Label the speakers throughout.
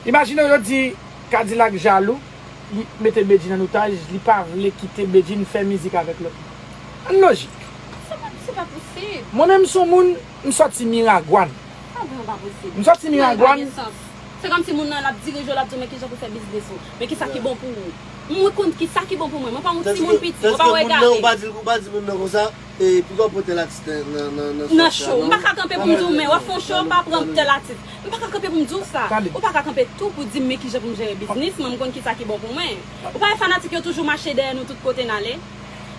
Speaker 1: Imajine yo di Kadilak jalou, li mete Bedjine an otaj, li pa vle kite Bedjine fè mizik avèk lòt moun. An lojik. Sa pa, se pa
Speaker 2: posib. Mwen menm m son moun.
Speaker 1: M soti miragwan. Sa vre an pa
Speaker 2: posib. M soti miragwan. Sa pa gen
Speaker 1: sans. Se kom si
Speaker 2: moun nan lap dirije w lap di w men kijan pou fè biznis ou. Men kisa ki bon pou ou. Mwen konn kisa ki bon pou mwen. Mwen pa yon ti moun piti. Mwen pa regade. Tandiske moun nan ou pa di moun nan
Speaker 3: konsa e poukisa w pran tel atis nan nan nan. Nan show.
Speaker 2: M paka kanpe pou m di w men wap fè yon show pa pran tel atis. M paka kanpe pou m di w sa. Ou paka kanpe tou pou di m men kijan pou m jere biznis mwen. M konn kisa ki bon pou mwen. Ou pa wè fanatik yo toujou mache dèyè nou tout kote n ale.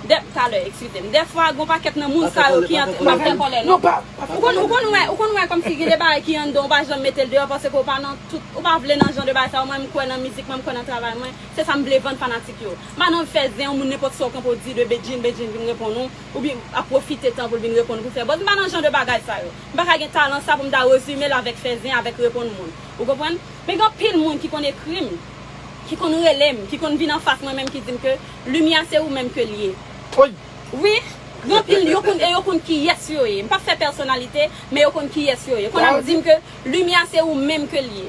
Speaker 2: talè eskize m dèfwa gon pakèt nan moun sa yo ki antre pa fè kòlè non
Speaker 1: ou konn ou konn wè
Speaker 2: ou konn wè kòmsi gen de bagay ki anndan ou pa janm mete l deyò paske ou pa nan tout ou pa vle nan jan de bagay sa yo mwen m kwè nan mizik mwen m kwè nan travay mwen se sa m vle vann fanatik yo m pa nan fè zen yon moun nenpòt sa w kanpe w di de Bedjine Bedjine vin reponn ou oubyen ap pwofite tan pou l vin reponn ou pou fè buzz m pa nan jan de bagay sa yo m pa ka gen talan sa pou m ta rezime l avèk fè zen avèk reponn moun ou konprann men gen anpil moun ki konn ekri m ki konn rele m ki konn vin anfas mwen menm ki di m ke Limyè a se ou menm ke l ye. Woy!
Speaker 1: Wi,
Speaker 2: gen anpil yo konn e yo konn kiyès yo ye. M pap fè pèsonalite, men yo konn kiyès yo ye. Konn ap di m ke limyè a se ou menm ke l ye.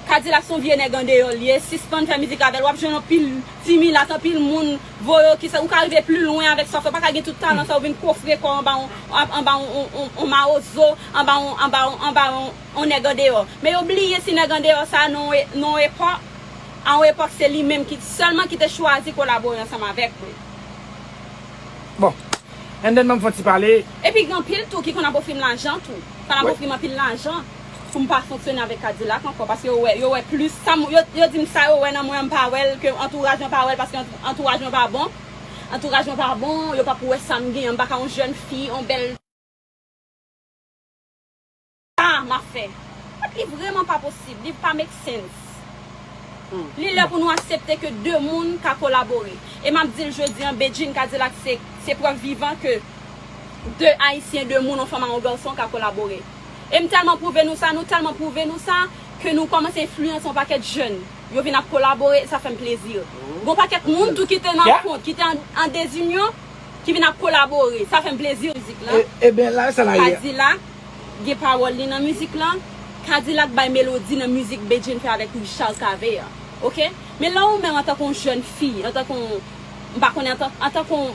Speaker 2: Kadilak son vye nèg andeyò l ye, sispann fè mizik avè l. W ap jwenn anpil ti milat, anpil moun voye w ki sa. Ou ka rive pli lwen avèk sa w fè. Ou pa ka gen tout talan sa yo vin kofre kò w anba yon anba yon mawozo, anba yon anba yon anba yon nèg andeyò. Men yo bliye si nèg andeyò sa a nan yon epòk. A yon epòk se li menm ki sèlman ki te chwazi kolabore ansanm avèk mwen.
Speaker 1: Bon. And then banm fon ti pale. Epi gen anpil tou
Speaker 2: ki konn ap ofri m lajan tou. Konn ap ofri m anpil lajan pou m pa fonksyone avèk Kadilak ankò paske yo wè yo wè plis sa m yo di m sa yo wè nan mwen an m pa wè l ke antouraj mwen pa wè l paske antouraj mwen pa bon antouraj mwen pa bon yo pap wè sa m genyen an m pa ka yon jèn fi yon bèl Ah m ap fè. But li vreman pa posib, li pa make sense. Li lè pou nou asepte ke 2 moun ka kolabore. E m ap di l jodi an Bedjine Kadilak se se prèv vivan ke 2 Ayisyen, 2 moun, yon fanm a yon garçon ka kolabore. E m tèlman pwouve nou sa, nou tèlman pwouve nou sa ke nou kòmanse enfliyanse yon pakèt jèn. Yo vin ap kolabore e sa fè m plezi. Gon pakèt moun tou ki te nan kont, ki te an dezinyon ki vin ap kolabore. Sa fè m plezi. Mizik lan,
Speaker 1: Kadilak.
Speaker 2: gen pawòl li nan mizik lan, K-dilak bay melodi nan mizik Bedjine fè avèk Richard Cavé an ok men lè ou menm antanke yon jèn fi antanke yon m pa konnen antanke yon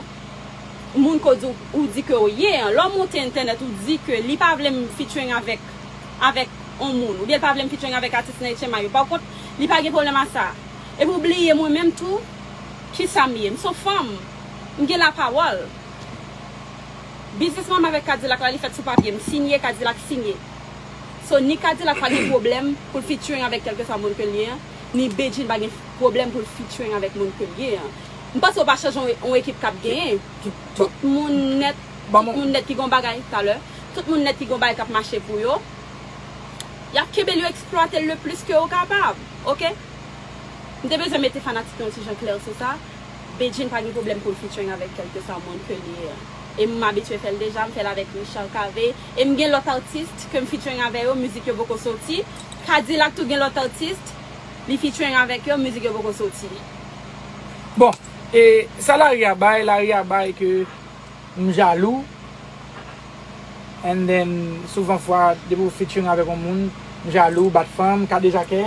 Speaker 2: moun ke ou di ke ou ye an lè ou monte entènèt ou di ke li pa vle m featuring avèk avèk yon moun oubyen li pa vle m featuring avèk atis nan HMI yo pakont li pa gen pwoblèm a sa epi ou bliye mwen menm tou kisa m ye m son fanm m gen lapawòl. Biznis mwen avèk Kadilak la li fèt sou papye m sinye Kadilak sinye so ni Kadilak pa gen pwoblèm pou l featuring avèk kèlkeswa moun ke l ye an ni Bedjine pa gen pwoblèm pou l featuring avèk moun ke l ye an m panse ou pa chanje yon ekip k ap genyen tout moun nèt tout moun nèt ki gen yon bagay talè tout moun nèt ki gen yon bagay k ap mache pou yo y ap kenbe l yo eksplwate l le plis ke yo kapab ok m te bezwen mete fanatik yo yon ti jan klè sou sa. Bedjine pa gen pwoblèm poul featuring avèk kelkeswa moun ke li ye e m abitye fèl deja, m fèl avèk Richard Cavé e m gen lòt artiste kem featuring avè yo mizik yo poko soti, K-dilak tou gen lòt artiste li featuring avèk yo mizik yo poko soti.
Speaker 1: Bon e sa lari a bay lari a bay ke m jalou and then souvan fwa depi w featuring avèk yon moun m jalou bat fanm kadejakè.